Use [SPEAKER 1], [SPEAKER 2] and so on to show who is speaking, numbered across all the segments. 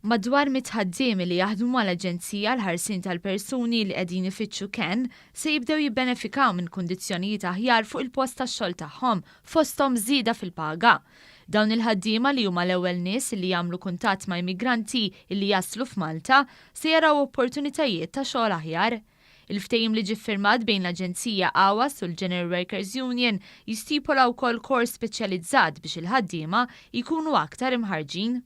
[SPEAKER 1] Madwar mitt ħaddiemi li jaħdmu mal-Aġenzija għall-Ħarsien tal-Persuni li qegħdin ifittxu kenn se jibdew jibbenefikaw minn kundizzjonijiet aħjar fuq il-post tax-xogħol tagħhom, fosthom żieda fil-paga. Dawn il-ħaddiema li huma l-ewwel nies li jagħmlu kuntatt ma' immigranti li jaslu f'Malta se jaraw opportunitajiet ta' xogħol aħjar. Il-ftehim li ġie ffirmat bejn l-Aġenzija AWAS u l-General Workers Union jistipola wkoll kors speċjalizzat biex il-ħaddiema jkunu aktar imħarrġin.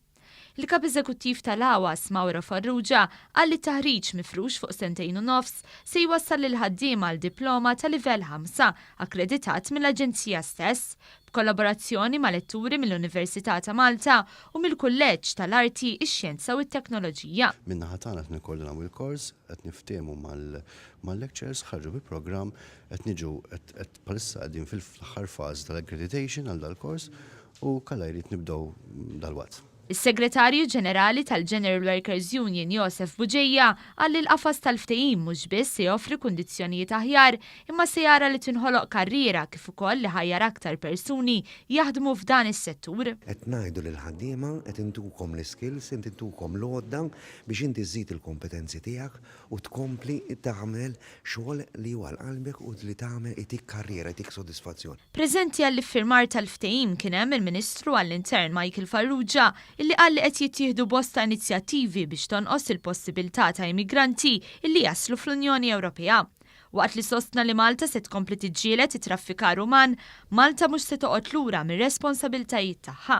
[SPEAKER 1] Il-Kap Eżekuttiv tal-AWAS, Mauro Farrugia, qal li t-taħriġ mifrux fuq sentejn u nofs se jwassal lill-ħaddiema għal diploma ta' livell ħamsa akkreditat mill-Aġenzija stess, b'kollaborazzjoni ma' letturi mill-Università ta' Malta u mill-Kulleġġ tal-Arti, ix-Xjenza u t-Teknoloġija. Min-naħa tagħna qed
[SPEAKER 2] nikkordinaw il-kors, qed niftiehmu mal-lecturers, ħarġu bi programm, qed niġu qed bħalissa qegħdin fil-aħħar fażi tal-accreditation għal dal-kors u kalla jrid nibdew dalwaqt. Is-Segretarju
[SPEAKER 1] Ġenerali tal-General Workers Union Josef Buġeja qal li l-qafas tal-ftehim mhux biss se joffri kundizzjonijiet aħjar imma se jara li tinħoloq karriera kif ukoll li ħajjar aktar persuni jaħdmu f'dan is-settur. Qed ngħidu
[SPEAKER 3] lill-ħaddiema qed intukom l-iskills, qed intukom l-għodda biex inti żżid il-kompetenzi tiegħek u tkompli tagħmel xogħol li hu għal qalbek u li tagħmel itik karriera, itik sodisfazzjon. Preżenti għall-iffirmar
[SPEAKER 1] tal-ftehim kien hemm il-Ministru għall-Intern Michael Farrugia illi qal li qed jittieħdu bosta inizjattivi biex tonqos il-possibiltà ta' immigranti illi jaslu fl-Unjoni Ewropea. Waqt li sostna li Malta se tkompli tiġġieled it-traffikar uman, Malta mhux se toqgħod lura mir-responsabiltajiet tagħha.